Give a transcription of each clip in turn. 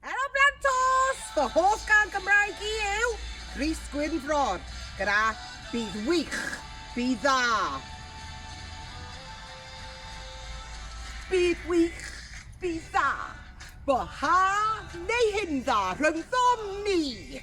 Helo Blantos! Fy hoff gan Gymraeg i yw Rhys Gwynfrod gyda Bydd Wych, Bydd Dda. Bydd Wych, Bydd Dda. Bo ha neu hyn dda rhyngddom ni!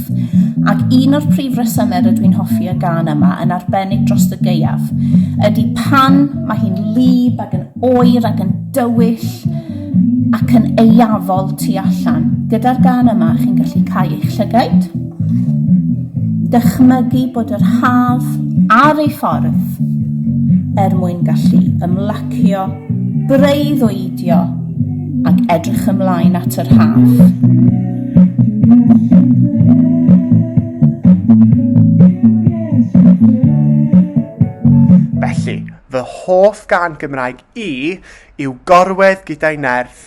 Ac un o'r prif resymau rydw i'n hoffi y gan yma yn arbennig dros y gaeaf ydy pan mae hi'n lib ac yn oer ac yn dywyll ac yn eiafol tu allan. Gyda'r gan yma chi'n gallu cael eich llygaid, dychmygu bod yr haf ar ei ffordd er mwyn gallu ymlacio Breuddwydio ac edrych ymlaen at yr haf. Felly, fy hoff gân Gymraeg i yw Gorwedd gyda'i Nerth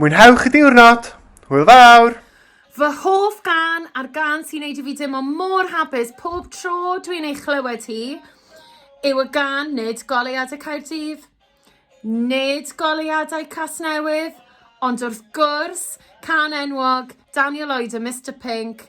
Mwynhewch y diwrnod! Hwyl fawr! Fy hoff gan a'r gan sy'n neud i fi deimlo mor hapus pob tro dwi'n ei chlywed hi yw y gan Nid Goleuadau Caerdydd, Nid Goleuadau Casnewydd, ond wrth gwrs, can enwog Daniel Lloyd a Mister Pink,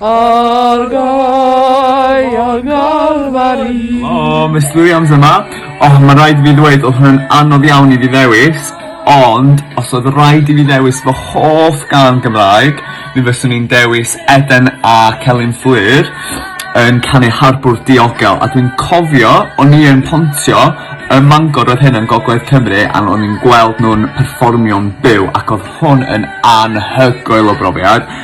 Argae, argael fari. O, Miss Williams yma. O, oh, mae rhaid i fi ddweud, oedd hwnna'n anodd iawn i fi ddewis, ond os oedd rhaid i fi ddewis fy hoff gan Gymraeg, mi fyswn i'n dewis Eden a Celyn Fflur yn canu Harbwr Diogel, a dwi'n cofio, o'n i yn pontio ym Mangor oedd hyn yn Gogledd Cymru a o'n i'n gweld nhw'n perfformio'n byw ac oedd hwn yn anhygoel o brofiad.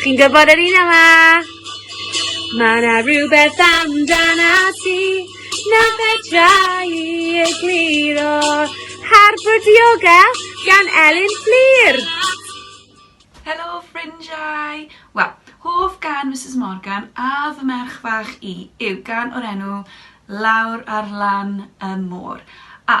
Chi'n gwybod yr un yma? Mae yna rhywbeth amdan a ti na fedrai i egluro. Harford Yoga gan Elin Fflir. Helo ffrindiau! Wel, hoff gan Mrs Morgan a fy merch fach i yw gan o'r enw Lawr ar lan y môr. A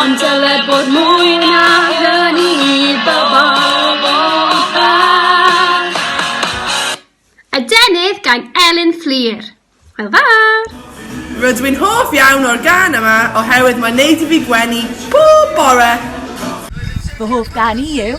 Ond dyle bod mwy na hynny i bobl o fach. Adenydd gan Elin Fflur. Hwyl fawr! Rydw i'n hoff iawn o'r gân yma oherwydd mae'n neud i fi gwenu pob bore! Fy hoff gan i yw.